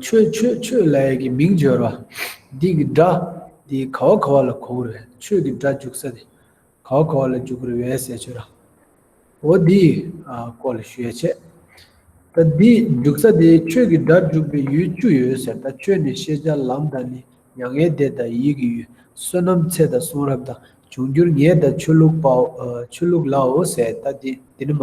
ཆོས་ཆོས་ཆོས་ལ་ཡི་གེ་མིང་སྦྱོར་བ། འདི་གི་སྒྲ། འདི་ག་བ་ག་བ་ལ་གོ་བུར་བས་ཆོས་ཀྱི་སྒྲ་འཇུག་ས་སྟེ། ག་བ་ག་བ་ལ་འཇུག་བུར་བས་ཟས་ཆོས་ར། འོ་འདི། ཀོ་ལ་ཞུ་ཡ་བྱས། ད་འདི་འཇུག་ས་དེ་ཆོས་ཀྱི་སྒྲ་འཇུག་པའི་ཡུལ་བཅུ་ཡོད་ཟེར་ད་ཆོས་ནི་ཤེས་བྱ་ལམ་དང་ནི་མྱ་ངན་འདས་དང་ཡིད་ཀྱི་ཡུལ་བསོད་ནམས་ཚད་དང་གསུང་རབ་དང་འབྱུང་འགྱུར་ངེས་དང་ཆོས་ལུགས་པའོ་ཆོས་ལུགས་ལའོ་ཟེར་ད་འདི་ནི་མ་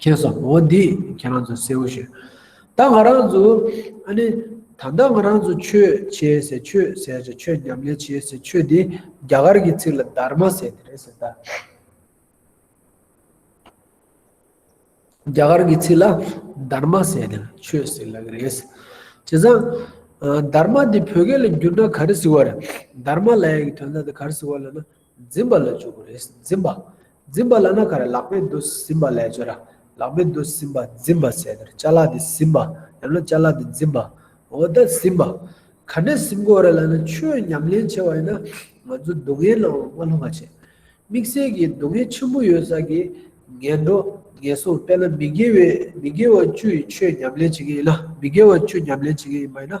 ཁྱེད་སོང་ངོ་འདི་ཁྱེད་རང་ཚོས་སེའུ་ཞེས། ད་ང་རང་ཚོ་ཨ་ནི། ད་ལྟ་ང་རང་ཚོ་ཆོས་བྱས་ཟེར་ཆོས་ཟེར་ཟེར་ཆོས་ཉམས་ལེན་བྱས་ཟེར་ཆོས་འདི་རྒྱ་གར་གྱི་ཚིག་ལ་དར་མ་ཟེར་དེ་རེད་ཟེར་ད། རྒྱ་གར་གྱི་ཚིག་ལ་དར་མ་ཟེར་དེ་ཆོས་ཟེར་ལ་གི་རེད། བྱས་ཙང། དར་མ་འདི་བོད་སྐད་ལ་བསྒྱུར་ན་ག་རེ་ཟེར་བ་རེད། དར་མ་ལའི་གི་དོན་དག་འདི་ག་རེ་ཟེར་བ་ལ་ན། འཛིན་པ་ལ་འཇུག་གི་རེད། འཛིན་པ། འཛིན་པ་ལ་ན་ག་རེ་ལག་པས་འདུ་ཟིན་པ་ལས་བྱོས་ར། ལག་པས་འདུ་ཟིན་པ་འཛིན་པ་ཟེར། བཅའ་ལག་འདི་ཟིན་པ། ཡང་ན་བཅའ་ལག་འདི་འཛིན་པ། འོ་ད་ཟིན་པ། ག་ནས་ཟིན་དགོས་རེད་ལ་ན་ཆོས་ཉམས་ལེན་བྱས་པ་ཡིན་ན། ང་ཚོ་སྡུག་བསྔལ་ནང་ལ་མ་ལྷུང་བ་བྱས། དམིགས་བསལ་གྱི་སྡུག་བསྔལ་ཆེན་པོ་ཡོད་ས་གི། ངན་འགྲོ། ངན་སོང་དཔེར་ན་མི་དགེ་བའི་མི་དགེ་བ་བཅུ་ཡི་ཆོས་ཉམས་ལེན་བྱེད་ཀྱི་ཡིན་ན་མི་དགེ་བ་བཅུ་ཉམས་ལེན་བྱེད་ཀྱི་ཡིན་པ་ཡིན་ན།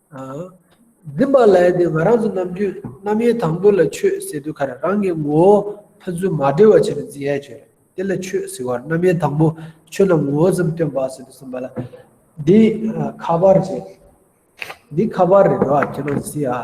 འཛིན་པ་ལས་དེ་ང་རང་ཚོ་ནམ་རྒྱུན་རྣམ་དབྱེ་དང་པོ་ལ་ཆོས་ཟེར་དུས་ཁ་རང་རང་གི་ངོ་བོ་ཕན་ཚུན་མ་འབྲེལ་བ་བྱས་པའི་འཛིན་ཡལ་གྱིས་དེ་ལ་ཆོས་ཟེར་བར་རྣམ་དབྱེ་དང་པོ་ཆོས་རྣམས་ངོ་བོ་ཙམ་སྟོན་པ་ཟེར་དུ་གསུངས་པ་ལ། འདི་ཁ་པར་རེད། འདི་ཁ་པར་རེད་རེད་བ་ཁྱེད་རང་གིས་ཟེར་ཡ།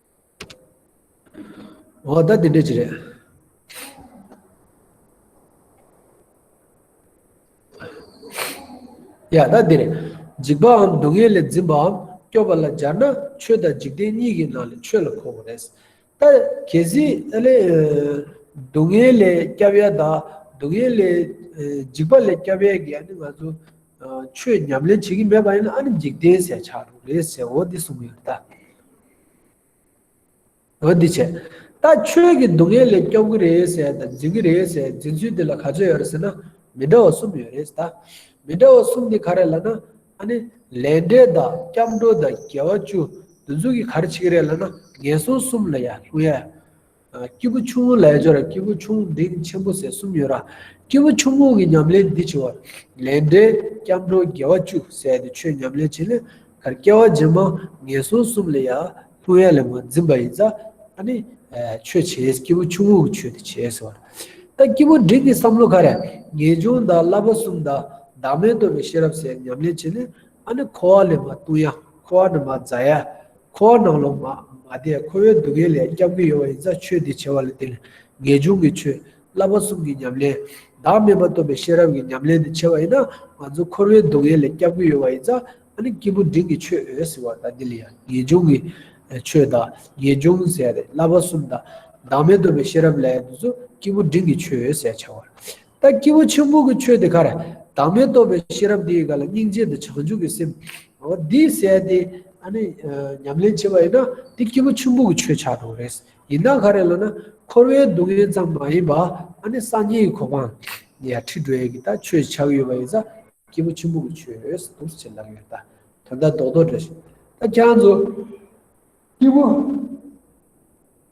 ཨོ་ད་དེ་འདྲ་ཅི་རེད། ཡ་ད་དེ་རེད། འཇིགས་པའམ་སྡུག་བསྔལ་ལས་འཛིན་པའམ་སྐྱོབ་པ་ལ་སྦྱར་ན་ཆོས་དང་འཇིག་རྟེན་གཉིས་ཀྱི་ནང་ལས་ཆོས་ལ་གོ་བ་རེད། ད་གལ་སྲིད་ཨ་ལས། སྡུག་བསྔལ་ལས་སྐྱབས་ཡས་དང་སྡུག་བསྔལ་ལས། འཇིགས་པ་ལས་སྐྱབས་ཡས་ཀྱི་ཨ་ནི་ང་ཚོ། ཆོས་ཉམས་ལེན་བྱེད་ཀྱི་མེད་པ་ཡིན་ན་ཨ་ནི་འཇིག་རྟེན་ཟད་ཆགས་འགྲོ་རེད་ཟེར་འོ་འདི་གསུངས་ཡོད་རེད་ད། འོ་འདི་བྱས། ད་ཁྱོད་ཀྱིས་སྡུག་བསྔལ་ལས་སྐྱོབ་གི་རེད་ཟེར་དང་འཛིན་གི་རེད་ཟེར་འཛིན་ཚུལ་འདི་ལ་ག་ཚོད་ཡོད་རེད་ཟེར་ན། མི་འདྲ་བ་གསུམ་ཡོད་རེད་ཟེར། མི་འདྲ་བ་གསུམ་དེ་ག་རེད་ལ་ན། ཨ་ནི། ལས་འབྲས་དང་སྐྱབས་འགྲོ་དང་རྒྱལ་བ་བཅུ། འདི་ཚུལ་གྱིས་ག་རེ་བྱེད་ཀྱི་རེད་ལ་ན། ངན་སོང་གསུམ་ལ་ཡང་ལྷུང་ཡ། སྐྱེས་བུ་ཆུང་ངུ་ལས་སྦྱོར་སྐྱེས་བུ་ཆུང་འབྲིང་ཆེན་པོ་ཟེར་གསུམ་ཡོད། སྐྱེས་བུ་ཆུང་ངུ་གི་ཉམས་ལེན་འདི་ཆེ་བ། ལས་འབྲས་སྐྱབས་འགྲོ་དགེ་བ་བཅུ་ཟད་དེ་ཆོས་ཉམས་ལེན་བྱེད་ལས་ཀར་སྐྱེ་བ་རྗེས་མ་ངན་སོང་གསུམ་ལས་ཡར་ལྷུང་ཡར་ལས་མ་འཛིན་པ་ཡིན་ཙང་ཨ་ནི། ཆོས་བྱེད་སྐྱེས་བུ་ཆུང་ངུ་གི་ཆོས་དེ་བྱེད་ཟེར་བ། ད་སྐྱེས་བུ་འབྲིང་གི་བསམ་བློ་ཁ་རས་ངེས་འབྱུང་དང་བསླབ་པ་གསུམ་དང་བདག་མེད་རྟོགས་པའི་ཤེས་རབ་ཟེར་ཉམས་ལེན་བྱེད་ལས་ཨ་ནི་འཁོར་བ་ལས་མ་ལྟུང་ཡ་འཁོར་བ་ནི་མ་འཛག་ཡ། ཁོ་བོ་ནང་ལོག་མ་མ་དེས་ཁོ་བོའི་སྡུག་བསྔལ་ལས་སྐྱབས་ཀྱི་ཡོང་བ་ཡིན་ཙང་ཆོས་འདི་བྱེད་པ་ལ་དེ་ལས་ངེས་འབྱུང་གི་ཆོས་བསླབ་པ་གསུམ་གྱི་ཉམས་ལེན། བདག་མེད་པ་སྟོན་པའི་ཤེས་རབ་ཀྱི་ཉམས་ལེན་དུ་བྱེད་པ་ཡིན་ན་ང་ཚོ་ཁོ་བོའི་སྡུག་བསྔལ་ལས་སྐྱབས་ཀྱི་ཡོང་བ་ཡིན་ཙང་ཨ་ནི་སྐྱིད་པོ་འབྲིང་གི་ཆོས་འོད་ཟེར་བ་དང་འདི་ལ་ཡང་ངེས་འབྱུང་གི་ཆོས་དང་ངེས་འབྱུང་ཟས་རེད་བསླབ་པ་གསུམ་དང། བདག་མེད་སྟོན་པའི་ཤེས་རབ་ལས་ཡང་དུ་ཚོ་སྐྱིད་པོ་འབྲིང་གི་ཆོས་འོད་ཟེར་བྱ་བར། ད་སྐྱེས་བུ་ཆེན་པོ་གི་ཆོས་དེ་ཁར། བདག་མེད་རྟོགས་པའི་ཤེས་རབ་དེ་ཡི་ག་ལ་སྙིང་རྗེ་འདི་བྱང་ཆུབ་ཀྱི་སེམས། འོ་འདི་ཟད་དེ། ཨ་ནི། ཉམས་ལེན་བྱེད་པ་ཡིན་ན་འདི་སྐྱེས་བུ་ཆེན་པོ་གི་ཆོས་ཆགས་འགྲོ་རེད། ཡིན་ན་ག་རེ་ལ་ན། འཁོར་བའི་སྡུག་བསྔལ་ཙམ་མ་ཡིན་པ། ཨ་ནི་སངས་རྒྱས་ཀྱི་གོ་འཕང། ནི་ཡ་ཁྲི་འགྲོའི་གི་ད་ཆོས་ཆགས་ཡོད་པ་ཡིན་ས། སྐྱེས་བུ་ཆེན་པོ་གི་ཆོས་རེད་ཟེར་དུས་ཆེད་ལབ་ཡོད་ད། དོན་དག་རྡོག་རྡོག་འདྲ་ཞིག། ད་ཁྱང་ཚོ། སྐྱེས་བུ།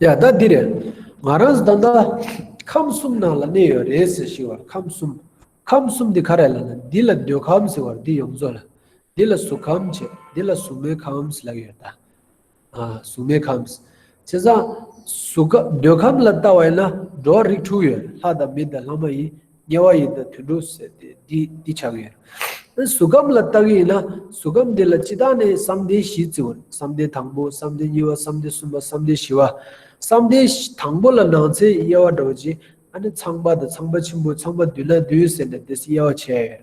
ཡ་ད་འདི་རེད། ང་རང་ཟླ་འདི་ཁམས་གསུམ་ནང་ལ་གནས་ཡོད་རེད་ཟེར་ཞིག་བར་ཁམས་གསུམ། ཁམས་གསུམ་འདི་ག་རེད་ལབ་ན་འདི་ལ་འདོད་ཁམས་ཟེར་བར་འདི་ཡོངས་རྫོགས་ལ། འདི་ལ་གཟུགས་ཁམས་བྱས་འདི་ལ་གཟུགས་མེད་ཁམས་ལབ་ཡོད་ད། གཟུགས་མེད་ཁམས། བྱས་ཙང། གཟུགས་ཁམས་འདོད་ཁམས་ལ་བལྟ་བ་ཡིན་ན་འགྲོ་བ་རིགས་དྲུག་ཡོད་ལྷ་དང་མི་དང་ལྷ་མ་ཡིན། དམྱལ་བ་ཡིན་ན་དུད་འགྲོ་ཟེར་ཏེ་འདི་བྱ་གི་ཡོད། གཟུགས་ཁམས་ལ་ལྟ་གི་ཡིན་ན་གཟུགས་ཁམས་དེ་ལ་སྤྱི་དག་ནས་བསམ་གཏན་བཞི་བརྩི་བར་བསམ་གཏན་དང་པོ་བསམ་གཏན་གཉིས་པ་བསམ་གཏན་གསུམ་པ་བསམ་གཏན་བཞི་བ། བསམ་གཏན་དང་པོ་ལ་ནང་ཚན་དབྱེ་བ་འདྲ་བ་གཅིག་ཨ་ནི་ཚངས་པ་དང་ཚངས་པ་ཆེན་པོ་ཚངས་པ་བདུན་ན་བདུན་ཟེར་ནས་དེས་དབྱེ་བ་བྱས་ཡོད།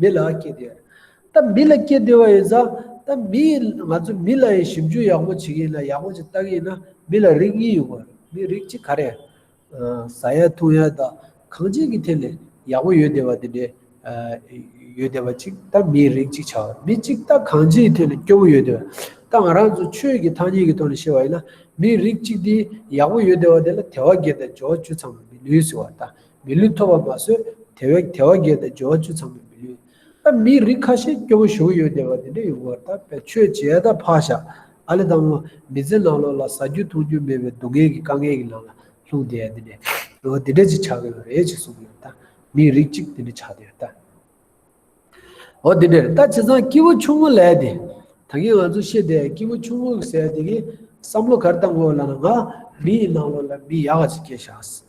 མི་ལ་སྐྱེ་བདེ་བ། ད་མི་ལ་སྐྱེ་བདེ་བ་ཡིན་ཙང། ད་མི་ཡིས་ང་ཚོ་མི་ལ་ཡང་ཞིབ་འཇུག་ཡག་པོ་བྱེད་ཀྱི་ཡིན་ལ་ཡག་པོ་ཅིག་ལྟ་གི་ཡིན་ན་མི་ལ་རིགས་གཉིས་ཡོད་དགོས། མི་རིགས་གཅིག་ག་རེད། ཟ་ཡ་འཐུང་ཡ་དང་གང་ཅན་གྱི་ཐད་ནས་ཡག་པོ་ཡོད་བདེ་བ་དེ་འདྲའི་ཡོད་བདེ་བ་ཅིག་ད་མིའི་རིགས་གཅིག་བྱ་བ། མི་གཅིག་ད་གང་ཅིའི་ཐད་ནས་སྐྱོ་བོ་ཡོད་བདེ་བ། ད་ང་རང་ཚོ་ཆོས་ཀྱི་ཐ་སྙད་ཀྱི་ཐོག་ནས་བཤད་པ་ཡིན་ན་མིའི་རིགས་གཅིག་དེ་ཡག་པོ་ཡོད་བདེ་བ་དེ་ལ་དལ་བ་བརྒྱད་དང་སྦྱོར་བ་བཅུ་ཚང་མ་མི་ལུས་ཟེར་བ་ལྟར་མི་ལུས་ཐོབ་པ་མ་ཟོས་དེ་བས་དལ་བ་བརྒལ་ཏེ་སྦྱོར་བ་བཅུ་ཚང་མས་མི་ལུས། ད་མིའི་རིགས་ཁ་ཤས་སྐྱོ་བོ་བཞུགས་ཡོད་བསྡད་པ་དེ་འདྲ་ཡོང་བར་ད་བས་ཆོས་བྱས་ད་ཕག་བཞག་ཨ་ལེ་དང་པོ་མི་ཚེ་ནང་ལོག་ལ་ཟ་རྒྱུ་འཐུང་རྒྱུ་མེད་པའི་སྡུག་བསྔལ་གྱི་དཀའ་ངལ་གྱི་ནང་ལ་ལྷུང་བསྡད་དེ་འདྲ་ཡོང་བ་དེ་འདྲ་ཅིག་ཆགས་ཀྱི་རེད་ཅེས་གསུངས་ཡོད་ད་མིའི་རིགས་གཅིག་དེ་འདྲ་ཆགས་བསྡད་ཡོད་ད། འོ་དེ་འདྲ་རེད་ད་བྱས་ཙང་སྐྱེ་བོ་ཆུང་ངུ་ལས་དེ་ད་གིན་ང་ཚོ་ཤེས་བསྡད་སྐྱེ་བོ་ཆུང་ངུ་ཟེར་དེ་གིན་བསམ་བློ་གར་བཏང་དགོས་ལ་ང་མི་ཡི་ནང་ལོག་ལ་མི་ཡག་ག་ཅིག་སྐྱེས་བཞག།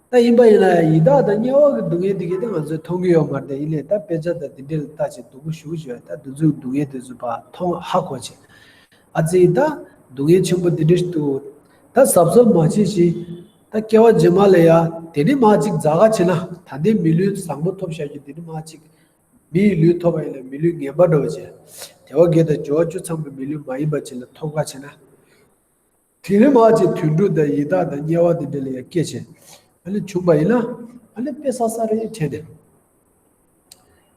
ད་ཡིན་པ་ཡིན་ལ་ཡི་དྭགས་དང་དམྱལ་བ་གི་སྡུག་བསྔལ་དེ་གས་ད་ང་ཚོས་མཐོང་གི་ཡོད་མ་རེད་ད་ཡིན་ལས་ད་དཔེ་ཆ་དང་དེ་འདྲས་ལ་ལྟ་བྱས་སྡུག་པོ་ཞུགས་བྱས་ད་འདི་ཚོའི་སྡུག་བསྔལ་དེ་ཚོ་བར་མཐོང་ཧ་གོ་བྱས། ཨ་ཙི་ཡི་དྭགས་སྡུག་བསྔལ་ཆེན་པོ་དེ་འདྲས་ཞིག་འདུག་ད་ཟབ་ཟོབ་མ་བྱེད་བཞིན་ད་སྐྱེ་བ་རྗེས་མ་ལས་ཡ་དེ་འདྲས་མ་ཅིག་རྫ་ཁ་བྱས་ན་ད་ལྟའི་མི་ལུས་བཟང་པོ་ཐོབ་བཞག་རྒྱུ་དེ་འདྲས་མ་ཅིག་མི་ཡི་ལུས་ཐོབ་པ་ཡིན་ལ་མི་ལུས་ངན་པ་འགྲོ་བྱས། དེ་བ་དགེ་དང་འབྱོར་བ་བཅུ་ཚང་པའི་མི་ལུས་མ་ཡིན་པ་ཅིག་ལ་ཐོབ་ཁ་བྱས་ན། དེ་ལས་མ་ཅིག་དུད་འགྲོ་དང་ཡི་དྭགས་དང་དམྱལ་བ་དེ་འདྲ་ལ་ཡང་སྐྱེ་བྱེད་དེ་བྱུང་བ་ཡིན་ན། དཔེ་ས་ས་རེ་བྱས་ནས།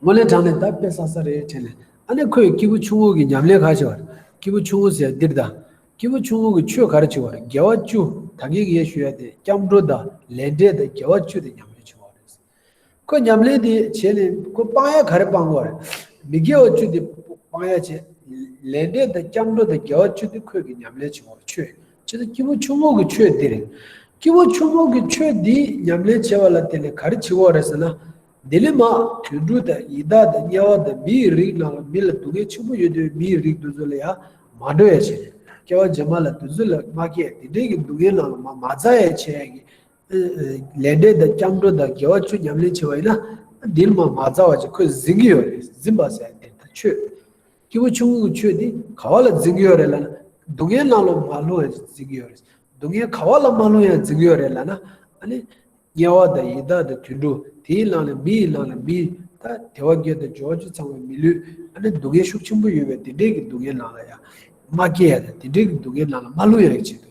སྔོན་ལས་དྲངས་ནས་ད་དཔེ་ས་ས་རེ་བྱས་ནས། ཨ་ནི་ཁོས་སྐྱེས་བུ་ཆུང་ངུ་གི་ཉམས་ལེན་ག་བྱེད་པར། སྐྱེས་བུ་ཆུང་ངུ་ཟེར་ཡ་འདིར་དང། སྐྱེས་བུ་ཆུང་ངུ་གི་ཆོས་ག་རེ་བྱེད་པར་རྒྱལ་བ་བཅུ་ད་གེ་གེ་ཞུ་ཡ་དེ་སྐྱབས་འགྲོ་དང་ལས་འབྲས་དང་རྒྱལ་བ་བཅུ་དེ་ཉམས་ལེན་བྱེད་པའོ་རེད་ཟེར། ཁོས་ཉམས་ལེན་དེ་བྱས་ནས་ཁོས་དཔང་ཡག་ག་རེ་སྤངས་གོ། མི་དགེ་བ་བཅུ་དེ་དཔང་ཡག་བྱས། ལས་འབྲས་དང་སྐྱབས་འགྲོ་དང་དགེ་བ་བཅུ་དེ་ཁོས་ཀྱི་ཉམས་ལེན་བྱུང་བར་ཆོས་ཅི་ལྟ་སྐྱིད་པོ་ཆུང་ངུ་གི་ཆོས་འདི་རེད། སྐྱིད་པོ་ཆུང་ངུ་གི་ཆོས་འདི་ཉམས་ལེན་བྱས་པ་ལ་དེ་ལས་ག་རེ་བྱེད་དགོས་རེད་ཟེར་ན། འདི་ལས་མ། དུད་འགྲོ་དང་ཡི་དྭགས་དང་དམྱལ་བ་དང་མིའི་རིགས་རྣམས་ལ་མི་ལ་སྡུག་བསྔལ་ཆེན་པོ་ཡོད་དུས་མིའི་རིགས་དུད་འགྲོ་ལ་ཡང་མ་འགྲོ་ཡ་བྱས། སྐྱེ་བ་རྗེས་མ་ལ་དུད་འགྲོ་ལ་མ་སྐྱེས་དེ་འདྲའི་གི་སྡུག་བསྔལ་རྣམས་ལ་མ་མ་བཙའ་ཡ་བྱས་ཡ་གི། ལས་འབྲས་དང་སྐྱབས་འགྲོ་དང་དགེ་བ་བཅུ་ཉམས་ལེན་བྱེད་པ་ཡིན་ན། འདིར་མ་མ་རྩ་བ་ཅིག་ཁོས་འཛིན་གྱི་ཡོད་རེད་འཛིན་པ་ཟེར་ཡང་དེ་ལྟར་ཆོས། སྐྱེས་བུ་ཆུང་ངུ་གི་ཆོས་དེ་ག་བ་ལ་འཛིན་གྱི་ཡོད་རེད་ལ་ན། སྡུག་བསྔལ་སྣང་ལོ་མ་ལྷུང་ཡང་འཛིན་གྱི་ཡོད་རེད། སྡུག་བསྔལ་ག་བ་ལ་མ་ལྷུང་ཡང་འཛིན་གྱི་ཡོད་རེད་ལ་ན། དམྱལ་བ་དང་ཡི་དྭགས་དང་དུད་འགྲོ་དེ་ཡི་ལང་ལ་མི་ཡི་ལང་ལ་མི། དལ་བ་བརྒྱད་དང་སྦྱོར་བ་བཅུ་ཚང་བའི་མི་ལུས། སྡུག་བསྔལ་ཤུགས་ཆེན་པོ་ཡོད་པས་དེ་འདྲའི་གི་སྡུག་བསྔལ་ལང་ལ་ཡང། མ་སྐྱེས་ཡང་དང་དེ་འདྲའི་གི་སྡུག་བསྔལ་ལང་ལ་མ་ལྷུང་ཡང་ཡིན་ཕྱིར།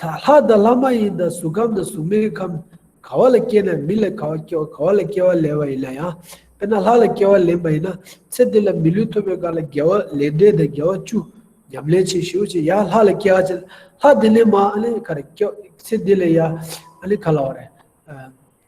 ད་ལྷ་དང་ལྷ་མ་ཡིན་དང་གཟུགས་ཁམས་དང་གཟུགས་མེད་ཁམས་ག་བ་ལ་སྐྱེས་ན་མི་ལ་ག་བ་སྐྱེ་བ་ག་བ་ལ་སྐྱེ་བ་ལེན་བ་ཡིན་ན་ཡང་དཔེར་ན་ལྷ་ལ་སྐྱེ་བ་ལེན་པ་ཡིན་ན་ཚེ་འདི་ལ་མི་ལུས་ཐོབ་པའི་སྐབས་ལ་རྒྱལ་བ་ལས་འབྲས་དང་རྒྱལ་བ་བཅུ་ཉམས་ལེན་བྱེད་ཞིའོ་ཅེས་ཡང་ལྷ་ལ་སྐྱེ་བ་བྱེད་ལྷ་དེ་ནི་མ་ཨ་ལེ་ག་རེ་སྐྱོ་ཚེ་འདི་ལ་ཡང་ཨ་ལེ་ག་ལ་བ་རེ།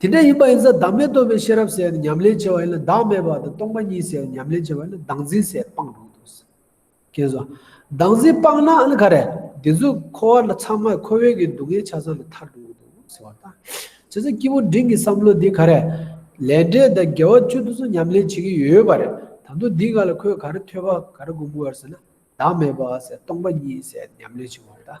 དེ་འདྲ་ཡིན་པ་ཡིན་ས་བདག་མེད་རྟོགས་པའི་ཤེས་རབ་ཟེར་ཡང་ཉམས་ལེན་བྱེད་པ་ཡིན་ལ་བདག་མེད་པ་དང་སྟོང་པ་ཉིད་ཟེར་ཡང་ཉམས་ལེན་བྱེད་པ་ཡིན་ལ་བདག་འཛིན་ཟེར་སྤངས་འགྲོ་གི་འདུག་ཟེར། ཀན་སུའོ། བདག་འཛིན་སྤངས་ན་ཨ་ནི་ག་རེ། དེ་ཚོས་འཁོར་བ་ལ་ཚང་མས་འཁོར་བའི་གི་སྡུག་བསྔལ་ཆ་ཚང་ལས་ཐར་འགྲོ་གི་འདུག་ཟེར་བ་དང། བྱས་ཙང་སྐྱིད་པོ་འབྲིང་གི་བསམ་བློ་འདི་ག་རེ། ལས་འབྲས་དང་དགེ་བ་བཅུ་དེ་ཚོ་ཉམས་ལེན་བྱེད་ཀྱི་ཡོད་པ་རེད་ད་དུང་འདི་ག་ལ་ཁོས་ག་རེ་ཐོས་པ་ག་རེ་སྒོམ་དགོས་ཟེར་ན་བདག་མེད་པ་ཟེར་སྟོང་པ་ཉིད་ཟེར་ཉམས་ལེན་བྱེད་དགོས་པ་རེད་ད།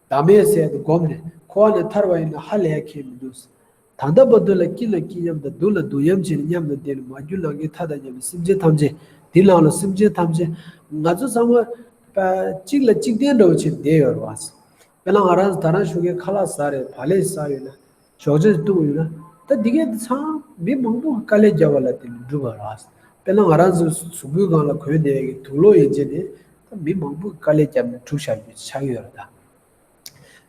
བདག་མེད་ཟས་དེ་བསྒོམས་ནས་འཁོར་བ་ནས་ཐར་བ་ཡིན་ན་ཧ་ལས་ཁེངས་མི་འདུག། ད་ལྟ་བ་དུ་ལ་སྐྱིད་ལ་སྐྱིད་སྙམ་དང་སྡུག་ལ་སྡུག་སྙམ་བྱས་ནས་སྙམ་དང་བདེ་ལ་མ་གྱུར་ལང་ཀའི་མཐའ་དང་མཉམ་པའི་སེམས་ཅན་ཐམས་ཅད་དེ་ལང་ལ་སེམས་ཅན་ཐམས་ཅད་ང་ཚོ་ཚང་མ། གཅིག་ལ་གཅིག་བརྟེན་འགྲོ་བའི་ཕྱིར་བསྡད་ཡོད་རེད། དཔེ་ལ་ང་རང་ད་རང་བཞུགས་མཁན་ཁ་ལག་ཟ་རེད་བ་ལས་ཟ་ཡོད་ན་ཞོགས་རྗེས་སུ་གཏུགས་ཡོད། ད་འདི་གའི་འདི་ཚང་མི་མང་པོ་དཀའ་ལས་བརྒྱབ་བ་ལ་བརྟེན་ནས་འགྲུབ་པ་རེད། དཔེར་ན་ང་རང་ཚོའི་གཟུགས་པོའི་སྒང་ལ་གོས་འདེགས་ཀྱི་དུག་ལོག་ཡོད་རྗེས་ནས་ད་མི་མང་པོས་དཀའ་ལས་བརྒྱབ་ནས་འཁྲུག་ཆ་རྒྱུ་ཆགས་ཡོད་རེད་ད།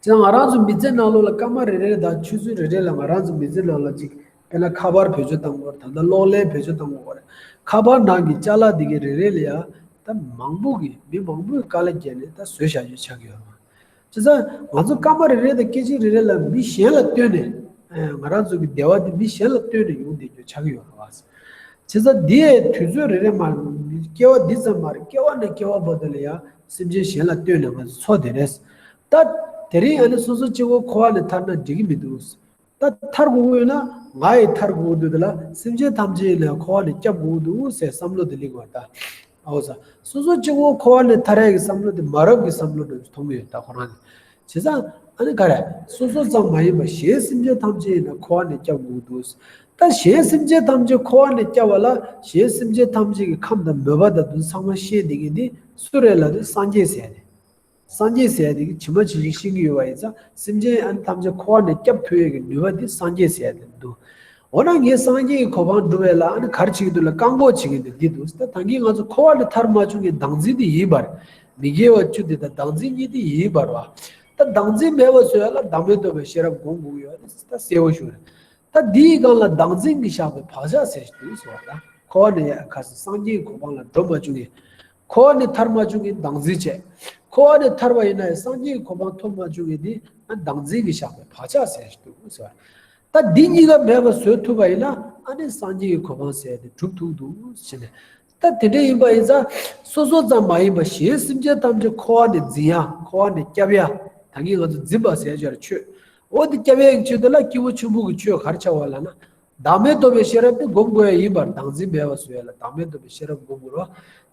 སྤྱིར་ང་རང་ཚོའི་མི་ཚེ་ནང་ལོ་ལ་སྐར་མ་རེ་རེ་དང་ཆུ་ཚོད་རེ་རེ་ལ་ང་རང་ཚོའི་མི་ཚེ་ནང་ལ་གཅིག་དཔེར་ན་ཁ་པར་བེད་སྤྱོད་བཏང་སྐོར་ད་ལྟ་གློག་ཀླད་བེད་སྤྱོད་བཏང་སྐོར་རེད། ཁ་པར་ནང་གི་བཅའ་ལག་འདི་གའི་རེ་རེ་ལ་ཡང་ད་མང་པོ་གིས་མི་མང་པོས་དཀའ་ལས་བརྒྱབ་ནས་ད་བཟོས་བཞག་རྒྱུ་ཆགས་ཡོད་རེད། བྱས་ཙང་ང་ཚོ་སྐར་མ་རེ་རེ་དང་སྐད་ཅིག་རེ་རེ་ལ་མི་གཞན་ལ་ལྟོས་ནས། ང་རང་ཚོ་གི་བདེ་བ་འདི་མི་གཞན་ལ་ལྟོས་ནས་ཡོང་བསྡད་རྒྱུ་ཆགས་ཀྱི་ཡོད་པ། བྱས་ཙང་འདི་ཡའི་དུས་ཚོད་རེ་རེ་མ་སྐྱེལ་བ་འདི་ཙམ་མ་རེད་སྐྱེལ་བ་ནས་སྐྱེལ་བ་བར་དུ་ལ་ཡང་སེམས་ཅན་གཞན་ལ་ལྟོས་ནས་ང་ཚོ་འཚོ་བསྡད་རེད། ད་དེ་རིང་ཡང་ནི་སོ་སོ་སྐྱེ་བོ་འཁོར་བ་ནས་ཐར་ན་འགྲིག་གི་མི་འདུག། ད་ཐར་དགུ་དངོས་ན་ང་ཡི་ཐར་དགུ་དུས་འདི་ལ་སེམས་ཅན་ཐམས་ཅད་ནས་འཁོར་བ་ནས་སྐྱབས་དགུ་འདུག་ཟེར་བསམ་བློ་དེ་ལིང་བར་གདའ། ཨོ་ཟ། སོ་སོ་གཅིག་བུ་འཁོར་བ་ནས་ཐར་ཡས་ཀྱི་བསམ་བློ་དེ་མ་རབས་ཀྱི་བསམ་བློ་འགྲོ་རྒྱུ་མཐོང་གི་ཡོད་ད་ཁོ་རང་ནས། བྱས་ཙང། ཨ་ནི་ག་རེ། སོ་སོ་ཙམ་མ་ཡིན་པར་གཞན་སེམས་ཅན་ཐམས་ཅད་ནས་འཁོར་བ་ནས་སྐྱབས་དགུ་འདུག་ཟེར། ད་གཞན་སེམས་ཅན་ཐམས་ཅད་འཁོར་བ་ནས་སྐྱབས་བ་ལ་གཞན་སེམས་ཅན་ཐམས་ཅད་ཀྱི་ཁམས་དང་མོས་པ་དང་དུ་ཚང་མ་ཤེས་འདི་ངས་འདི་སུ་རེད་ལ་དུ་སངས་རྒྱས་ཟེར་ནས། སངས་རྒྱས་ཟེར་ཡ་དེ་གིས་ཇི་མ་ཇི་བཞིན་ཤེས་ཀྱི་ཡོད་པ་ཡིན་ཙང་སེམས་ཅན་ཨན་ཐམས་ཅད་འཁོར་བ་ནས་སྐྱབས་ཐོབ་ཡོད་ཀྱི་ནུས་པ་དེ་སངས་རྒྱས་ཟེར་ཡ་དེར་འདུག། འོ་ན་ངས་སངས་རྒྱས་ཀྱི་གོ་འཕང་བསྒྲུབ་བས་ལ་ཨན་གར་བྱེད་ཀྱི་འདུག་ལ་བཀག་འགོག་བྱེད་ཀྱི་འདུག་འདི་འདུག་ད་ཐང་གིས་ང་ཚོ་འཁོར་བ་ལས་ཐར་མ་བྱུང་གི་བདག་འཛིན་དེ་ཡིན་པར། མི་དགེ་བ་བཅུ་དེ་དང་བདག་འཛིན་གཉིས་དེ་ཡིན་པར། བ་ད་བདག་འཛིན་མེད་པར་བཟོས་ཡ་ལ་བདག་མེད་འདོད་པའི་ཤེས་རབ་སྒོམ་དགོས་ཀྱི་ཡོད་ད་གསལ་བོ་ཞུ། ད་འདི་ཡི་སྒང་ལ་བདག་འཛིན་གྱི་བཞག་པའི་བག་ཆགས་ཟེར་ཞིག་འདུག་ཟེར་བ་ད་འཁོར་བ་ནས་ཡ་ཨན་གར་སོང་སངས་རྒྱས་ཀྱི་གོ་འཕང་ལ་འགྲོ་མ་བྱུང་གི། འཁོར་བ་ནི་ཐར་མ་བྱུང་གི་འདང་རྫིས་བྱས། འཁོར་བ་ནི་ཐར་བ་ཡིན་ན་ཡང་སངས་རྒྱས་ཀྱི་གོ་འཕང་ཐོབ་མ་བྱུང་གི་ནི་འདང་རྫིས་ཀྱིས་བཞག་པའི་བག་ཆགས་ཟད་ཟེར་དུ་ཟེར་བ། ད་འདི་གཉིས་ཀ་མེད་པར་བཟོད་ཐུབ་པ་ཡིན་ན་ཨ་ནི་སངས་རྒྱས་ཀྱི་གོ་འཕང་ཟད་དེ་གྲུབ་ཐུབ་འདུག་བྱས་ནས། ད་དེ་འདྲ་ཡིན་པ་ཡིན་ཙང་སོ་སོ་ཙམ་མ་ཡིན་པར་གཞན་སེམས་ཅན་ཐམས་ཅད་འཁོར་བ་ནི་འཛིན་ཡ་འཁོར་བ་ནི་སྐྱབས་ཡ་ད་ངས་ང་ཚོ་འཛིན་པ་ཟད་བྱས་ལ་ཆོས་འོ་དེ་སྐྱབས་ཡ་ཡི་ཆེད་དུ་ལ་སྐྱེས་བུ་ཆེན་པོ་གི་ཆོས་གར་བྱ་བ་ལ་ན་བདག་མེད་རྟོགས་པའི་ཤེས་རབ་ཏུ་བསྒོམ་དགོས་ཡ་ཡིན་པར་བདག་འཛིན་མེད་པར་བཟོ་ཡ་ལ་བདག་མེད་རྟོགས་པའི་ཤེས་རབ་བསྒོམ་དགོས་རོ།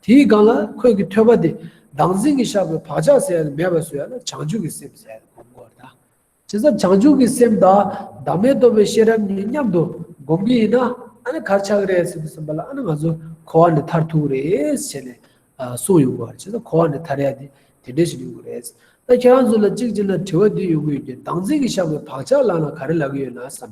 དེའི་སྒང་ལ་ཁོད་ཀྱི་ཐོད་པ་དེ་བདག་འཛིན་གྱི་ཤ་བོའི་བག་ཆགས་ཟེར་ཡ་ལ་མེད་པར་བཟོ་ཡ་ལ་བྱང་ཆུབ་ཀྱི་སེམས་ཟེར་ཡ་ལ་བསྒོམ་དགོས་ར། དེ་ཚ་བྱང་ཆུབ་ཀྱི་སེམས་དང་བདག་མེད་རྟོགས་པའི་ཤེས་རབ་གཉིས་མཉམ་དུ་བསྒོམ་གྱི་ཡིན་ན་ཨ་ན་གར་ཆགས་ཀྱི་རེད་ཟེར་དུ་སེམས་པ་ལ་ཨ་ན་ང་ཚོ་འཁོར་བ་ནས་མཐར་ཐུག་རེད་བྱས་ནས་གསུངས་ཡོང་དགོས་ར་བྱས་ཙང་འཁོར་བ་ནས་མཐར་ཡ་དེ་དེ་འདྲས་ཞིག་ཡོང་གི་རེད། ད་ཁྱེད་རང་ཚོ་ལ་གཅིག་ཅིག་ན་དྲི་བ་འདི་ཡོང་གི་ཡོད་ཀྱི་བདག་འཛིན་གྱི་ཤ་བོའི་བག་ཆགས་ལག་ན་ག་རེ་ལག་གི་ཡོད་ན་བསམ།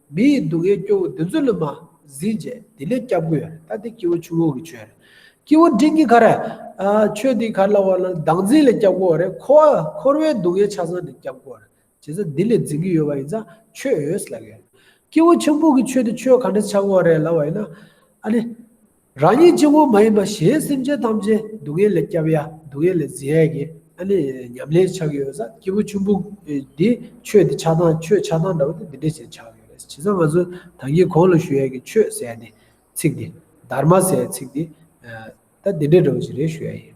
མི་ཡི་སྡུག་བསྔལ་སྐྱོ་བོ་བདུན་ཚོད་ལ་མ་ཟིན་རྗེས་དེ་ལས་སྐྱབས་དགོས། ད་ལྟའི་སྐྱེ་བོ་ཆུ་བོ་གི་ཆོས་རེད། སྐྱེ་བོ་འབྲིང་གི་གར། ཆོས་འདིའི་གར་ལ་བ་ལང་བདག་འཛིན་ལས་སྐྱབས་དགོས་རེད། འཁོར་བ་འཁོར་བའི་སྡུག་བསྔལ་ཆ་ཚང་འདི་སྐྱབས་དགོས་རེད། བྱས་ཙང་འདི་ལས་འཛིན་གྱི་ཡོད་པ་ཡིན་ཙང་ཆོས་ཡོད་ལབ་ཡོད། སྐྱེ་བོ་ཆེན་པོ་གི་ཆོས་དེ་ཆོས་ག་འདྲ་ཆགས་དགོས་རེད་ལབ་པ་ཡིན་ན། ཨ་ནི། རང་ཉིད་སྐྱེ་བོ་མ་ཡིན་པ་གཞན་སེམས་ཅན་ཐམས་ཅད་སྡུག་བསྔལ་ལས་བསྐྱབ་ཡ་སྡུག་བསྔལ་ལས་འཛིན་ཡ་གི་ཨ་ནི་ཉམས་ལེན་ཆགས་ཀྱི་ཡོད་ས་སྐྱེས་བུ་ཆུན་པོ་འདི་ཆོས་འདི་ཆགས་སྡང་ཆོས་ཆགས་སྡང་འདྲ་བོ་འདི་འདྲ་ཞེས་ཆགས་ཀྱི་རེད་བྱས་ཙང་ང་ཚོ་ད་ངས་གོང་ལ་ཞུ་ཡ་གི་ཆོས་ཟེར་ཡ་འདི་ཚིག་འདི་དར་མ་ཟེར་ཡ་ཚིག་འདི་ད་འདི་འདྲ་འདྲ་བོ་ཞིག་རེད་ཞུ་ཡ་ཡིན།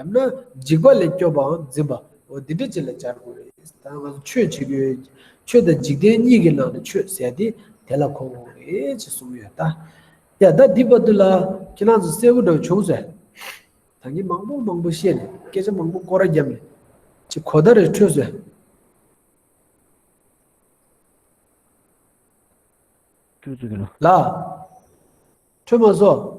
ཡང་ན་འཇིགས་པ་ལས་སྐྱོབ་པའམ་འཛིན་པའོ་འདི་འདྲ་ཅི་ལ་སྦྱར་དགོས། ད་ང་ཚོ་ཆོས་བྱེད་དགོས། ཆོས་དང་འཇིག་རྟེན་གཉིས་ཀྱི་ནང་ནས་ཆོས་ཟེར་ཏེ་དེ་ལ་གོ་འོང་ངེས་ཅེས་གསུངས་ཡོད་ད། ཡ་ད་འདི་པ་འདི་ལ་ཁྱེད་རང་ཚོ་གསལ་བོ་འདྲ་བྱུང་ཟེར། ད་ངས་མང་པོ་མང་པོ་བཤད་ནས་སྐད་ཆ་མང་པོ་སྐོར་ར་བརྒྱབ་ནས་ཅི་གོ་ད་རེ་འཕྲོད་ཟེར། ལ། འཕྲོད་མ་བཟོ།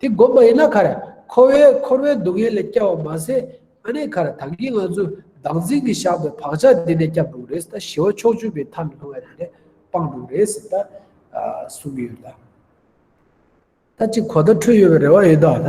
དེ་བསྒོམ་པ་ཡིན་ན་ཁར་ཁོ་བོས་འཁོར་བའི་སྡུག་བསྔལ་ལས་སྐྱབས་བ་མ་ཟད་ཨ་ནེ་ཁར་དམ་གྱི་ང་ཚོས་བདག་འཛིན་གྱི་བཞག་པའི་བག་ཆགས་དེ་ནས་སྐྱབས་འགྲོ་རེད་ད་ཞི་བ་ཕྱོགས་བཅུ་པའི་མཐའ་མི་སྣང་བའི་དེ་ནས་སྤངས་འགྲོ་རེད་ད་གསུང་གི་ཡོད་ད་ད་ཅིག་གོ་བརྡ་འཕྲོད་ཡོད་པའི་རེ་བ་ཡོད་ད་ད།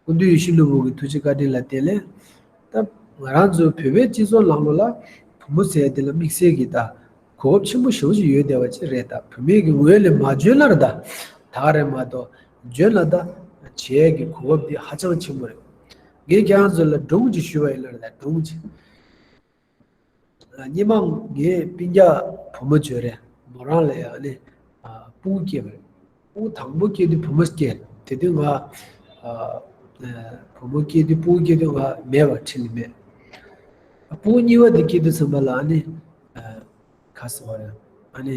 སྐུ་མདུན་ཡེ་ཤུ་ནོར་བུ་གྱི་ཐུགས་རྗེ་བཀའ་དྲིན་ལ་བརྟེན་ལན་བཏབ། ང་རང་ཚོའི་བོད་པའི་སྤྱི་ཚོགས་ལྷག་ལོ་ལ་བུ་མོ་ཟེར་དེ་ལ་དམིགས་བསལ་གྱི་དག་གོ་སྐབས་ཆེན་པོ་ཞེ་བོ་ཞིག་ཡོད་བསྡད་པ་བཅས་རེད་ད། བུད་མེད་ཀྱི་ངོས་ནས་མ་འཇོན་ན་རེད་ད། ད་ག་རེད་མ་གཏོགས་འཇོན་ན་ད། བྱས་ཀྱི་གོ་སྐབས་འདི་ཧ་ཅང་ཆེན་པོ་རེད། ངས་ཁྱེད་རང་ཚོ་ལ་སྒྲུང་ཅིག་ཞུ་བ་ཡིན་ན་རེད་ད་སྒྲུང་ཅིག། སྙེ་མ་ངའི་པིང་རྒྱ་བུ་མོ་བྱོས་རེད་མོ་རང་ལ་ཡང་ནི་སྤུན་སྐྱེས་པ་རེད་སྤུན་དང་པོ་སྐྱེས་དུས་བུ་མོ་སྐྱེས་དེ་དུས་ང་བུ་མོ་སྐྱེས་དུས་སྤུན་སྐྱེས་དུས་ང་མེད་པ་ཁྲི་ལི་མེད་སྤུན་གཉིས་པ་དེ་སྐྱེས་དུས་ཚང་མ་ལ་ནི་ག་ཟེར་བ་རེད་ཨ་ནི།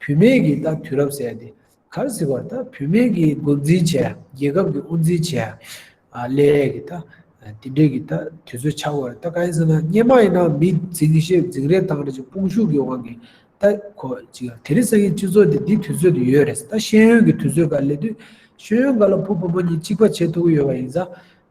བུད་མེད་ཀྱིས་ད་དུས་རབས་གསལ་ཏེ་གར་ཟེར་བར་ད་བུད་མེད་ཀྱིས་འགོ་འཛིན་བྱས། རྒྱལ་ཁབ་ཀྱིས་དབུ་འཛིན་བྱས། ལས་རེས་ཀྱིས་ད་དེ་འབྲེལ་གྱི་ད་དུས་ཚོད་ཆགས་པར་ད་གང་ཡིན་ཟེར་ན་སྙན་མ་ཡིན་ན་མི་འཛིང་བཤད་འཛིང་རེ་དང་རེ་ཅིག་དཔུང་ཤུགས་ཀྱི་དབང་གིས་ད་གོ་ཅིག་དེ་རིང་སང་ཉིན་སྤྱི་ཚོགས་འདི་འདི་དུས་ཚོད་དུ་ཡོད་རེད་ཟེར་ད་ཤེས་ཡོན་གྱི་དུས་ཚོད་འགའ་ལས་དུས་ཤེས་ཡོན་འགའ་ལ་ཕུ་བུ་མོ་གཉིས་གཅིག་པ་བྱེད་ཐུག་གི་ཡོད་པ་ཡིན་ཟ།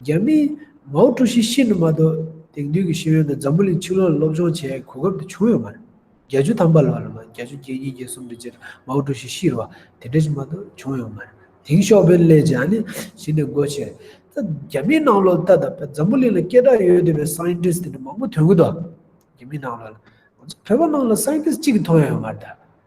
རྒྱ་མིས་མའོ་ཀྲུའུ་ཞི་ཤི་ནུ་མ་དོ་དེང་དུས་ཀྱི་ཤེས་ཡོན་དང་འཛམ་བུ་གླིང་ཕྱི་ལོག་ལ་སློབ་སྦྱོང་བྱེད་ཡའི་གོ་སྐབས་དེ་བྱུང་ཡོད་མ་རེད། བརྒྱ་ཆུ་ཐམ་པ་ལ་བ་ལ་མ་བརྒྱ་ཆུ་བརྒྱད་གཉིས་བརྒྱད་གསུམ་དེ་རྗེས་མའོ་ཀྲུའུ་ཞི་ཤི་རུ་བ་དེ་འདྲ་ཞིག་མ་དོ་བྱུང་ཡོད་མ་རེད། དེང་ཤོག་བེ་ལེ་ཇཱ་ནི་ཞི་ནས་སྒོ་ཕྱེ་རེད། ད་རྒྱ་མིའི་ནང་ལོག་ལྟ་དང་འཛམ་བུ་གླིང་ལ་སྐད་གྲགས་ཡོད་འདོད་པའི Scientist དེ་འདྲ་མང་པོ་དོན་གུ་དོ། རྒྱ་མིའི་ནང་ལོག་ལ། ང་ཚོ་བོད་པ་ནང་ལ Scientist གཅིག་གི་མཐོང་ཡ་ཡོད་མ་རེད་ད།